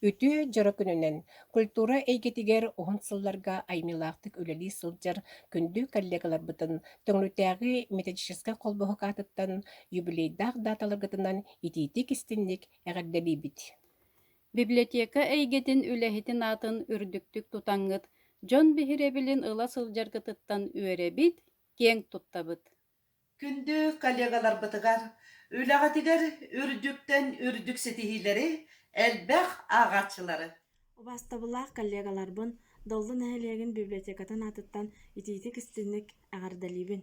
Үтүө дьоро күнүнэн культура эйгэтигэр уһун сылларга аймыылаахтык үлэлии сылдьар күндү коллегаларбытын Төҥүлүтээҕи методическай холбоһук аатыттан юбилейдаах дааталаргытынан итиитик-истинник эҕэрдэлиибит! Библиотека эйгэтин үлэһитин аатын үрдүктүк тутаҥҥыт, дьон биһирэбилин ыла сылдьаргытыттан үөрэбит, киэҥ туттабыт. Күндү коллегаларбытыгар, үлэҕитигэр үрдүктэн үрдүк ситиһиилэри, элбэх ааҕааччылары! Убаастабыллаах коллегаларбын Доллу нэһилиэгин библиотекатын аатыттан итиитик-истиҥник эҕэрдэлиибин!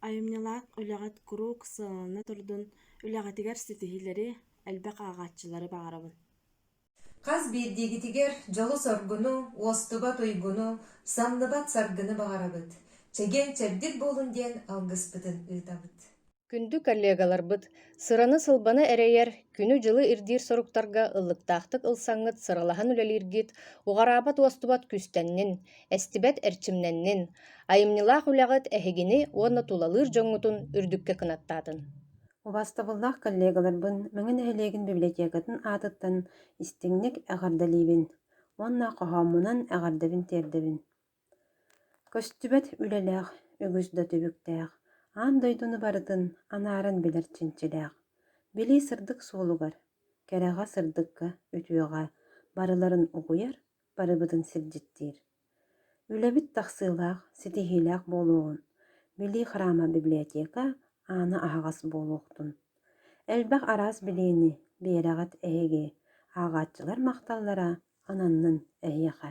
Айымньылаах үлэҕит куруук сыалана турдун, үлэҕитигэр ситиһиилэри, элбэх ааҕааччылары баҕарабын! Хас биирдиигитигэр дьолу-соргуну, уостубат-уйгуну, самныбат саргыны баҕарабыт, чэгиэн-чэбдик буолун диэн алгыспытын ыытабыт. Күндү коллегаларбыт, сыраны-сылбаны эрэйэр, күнү-дьылы ирдиир соруктарга ыллыктаахтык ылсаҥҥыт сыралаһан үлэлииргит уҕараабат уостубат күүстэннин, эстибэт эрчимнэннин, айымньылаах үлэҕит эһигини уонна тулалыыр дьоҥҥутун үрдүккэ кынаттаатын! Убаастабыллаах коллегаларбын Мэҥэ нэһилиэгин библиотекатын аатыттан истиҥник эҕэрдэлиибин уонна хоһооммунан эҕэрдэбин-тиэрдэбин. Көстүбэт үлэлээх, үгүс да түбүктээх, аан дойдуну барытын анааран билэр чинчилээх, билии сырдык суолугар, кэрэҕэ-сырдыкка, үтүөҕэ барыларын угуйар барыбытын сирдьиттиир. Үлэбит тахсыылаах, ситиһиилээх буолуоҕун, билии храма библиотека аана аһаҕас буолуохтун. Элбэх араас билиини, биэрэҕит эһиги, ааҕааччылар махталлара ананнын эһиэхэ.